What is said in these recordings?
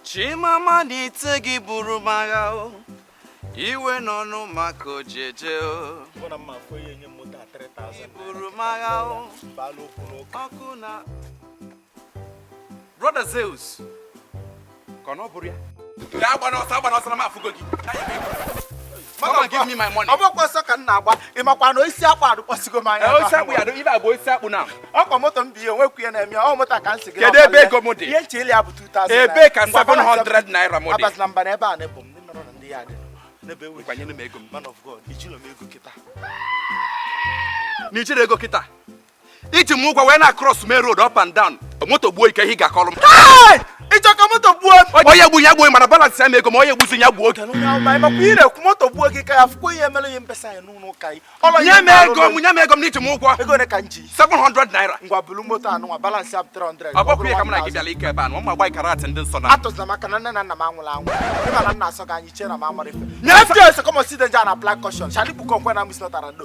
chi mama nite gị buru m agha o iwe n'ọnụma ka o ji eje o buru m agha o ọkụ na brother zeus ka ọ na ọ bụrụ ya agbana ọsọ agbana ọsọ na m afụgo gị Come and give me my money. Ọ bụkwa ọsọ ka m na-agba. Ị makwa na osisi akpụ adụkpọsigo m anya. Osisi akpụ ya, ibe abụ osisi akpụ na. Ọ kwa moto m bi ihe nwekwu ya na-eme ọ moto ka m si gị. Kedu ebe ego m dị? Ihe nche ya bụ 2000. Ebe ka 700 naira m dị. Abazila mba na ebe a na-ebu m ndị nọrọ na ndị ya dị. N'ebe ewu. Kwanyere m ego m. Man of God, ejiro m ego kịta. Na i jiro ego kịta. i ji m ụgwọ wee na cross main road up and down moto gbuo gị kee ihe ị ga-akọrọ m ị chọ ka moto gbuo onye gbu ya gbuo mana balance ya m ego m onye gbuzi ya gbuo oge ị na-ekwu moto gbuo gị ka ya fụkwa ihe mere ihe mbesa ya n'ụlọ ụka anyị nye m ego m nye m ego m na i ji m ụgwọ ego ole ka m ji 700 naira ngwa bulu moto anụnwa balance ya bụ 300 ọ bụkwa ihe ka m na gị bịara ike ebe a na ụmụ white garment ndị nsọ na atụzina maka na nne na nna m anwụla anwụ ị ma na m na-asọ gị anya ị chee na m amaro ife never just come see danger na black caution shadikpukọ nkwe na msnọtara ndo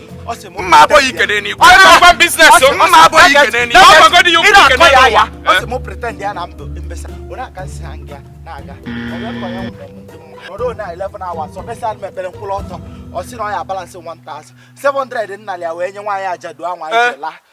mma abụghị ikene n'igwe ọgwụgwọ business mma abụghị ikene n'igwe ọgwụgwọ dị ya ukwu ikene n'ụwa ọ sị mụ pretend ya na ndụ mbesa onye aka nsị ha nga na-aga ọrụ na 11 hours ọ mesa mepere mkpụrụ ọtọ ọ sị na ọ ya balance 1000 700 m nalị ya wee nye nwaanyị ajadu anwa ijela